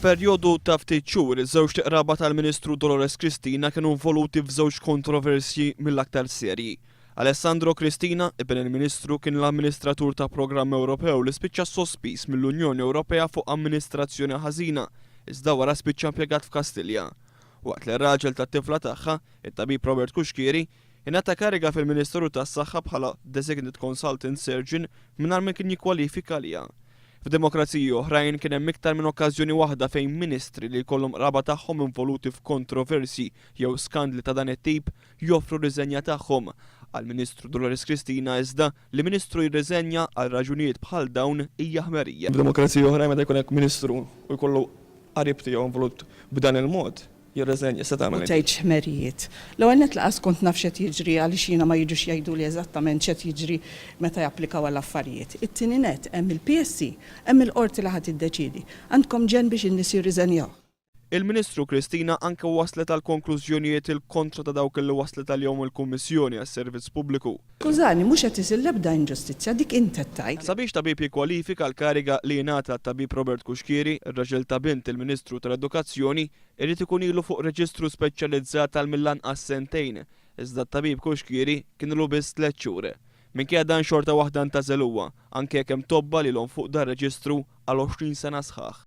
F'perjodu ta' ftit xhur, iż-żewġt qraba tal-Ministru Dolores Cristina kienu involuti f'żewġ kontroversji mill-aktar serji. Alessandro Cristina, iben il-Ministru, kien l-amministratur ta' programm Ewropew li spiċċa sospiż mill-Unjoni Ewropea fuq amministrazzjoni ħażina iżda wara spiċċa impjegat f'Kastilja. Waqt li r-raġel tat-tifla tagħha, it-tabib Robert Cuschieri, Ingħata kariga fil-Ministeru tas-Saħħa bħala Designate Consultant Surgeon mingħajr ma kien jikkwalifika għaliha. F'demokraziji oħrajn kien hemm iktar minn okkażjoni waħda fejn Ministri li jkollhom qraba tagħhom involuti f'kontroversji jew skandli ta' dan it-tip joffru r-riżenja tagħhom. Għall-Ministru Dolores Cristina iżda, li Ministru jirriżenja għal raġunijiet bħal dawn hija ħmerija. F'demokraziji oħrajn meta jkun hekk Ministru u jkollu qarib tiegħu involut b'dan il-mod, jirriżenja, se tagħmel int. U tgħid x'ħmerijiet. L-ewwel nett lanqas kont naf x'qed jiġri għaliex jiena ma jiġux jgħiduli eżattament x'qed jiġri meta japplikaw għal affarijiet. It-tieni nett, hemm il-PSC, hemm il-Qorti li ħa tiddeċiedi. Għandkom ġenn biex in-nies jirriżenjaw. Il-Ministru Cristina anke waslet għal konklużjonijiet il-kontra ta' dawk li waslet għalihom il-Kummissjoni għas-Servizz Pubbliku. Skużani, mhux qed isir l-ebda inġustizzja, dik int qed tgħid. Sabiex tabib jikkwalifika l-kariga li jingħata lit-tabib Robert Cuschieri, ir-raġel ta' bint il-Ministru tal-Edukazzjoni, irid ikun ilu fuq reġistru speċjalizzat għal mill-anqas sentejn, iżda t-tabib Cuschieri kien ilu biss tliet xhur. Minkejja dan xorta waħda ntgħażel huwa, anke jekk hemm tobba lilhom fuq dan reġistru għal għoxrin sena sħaħ.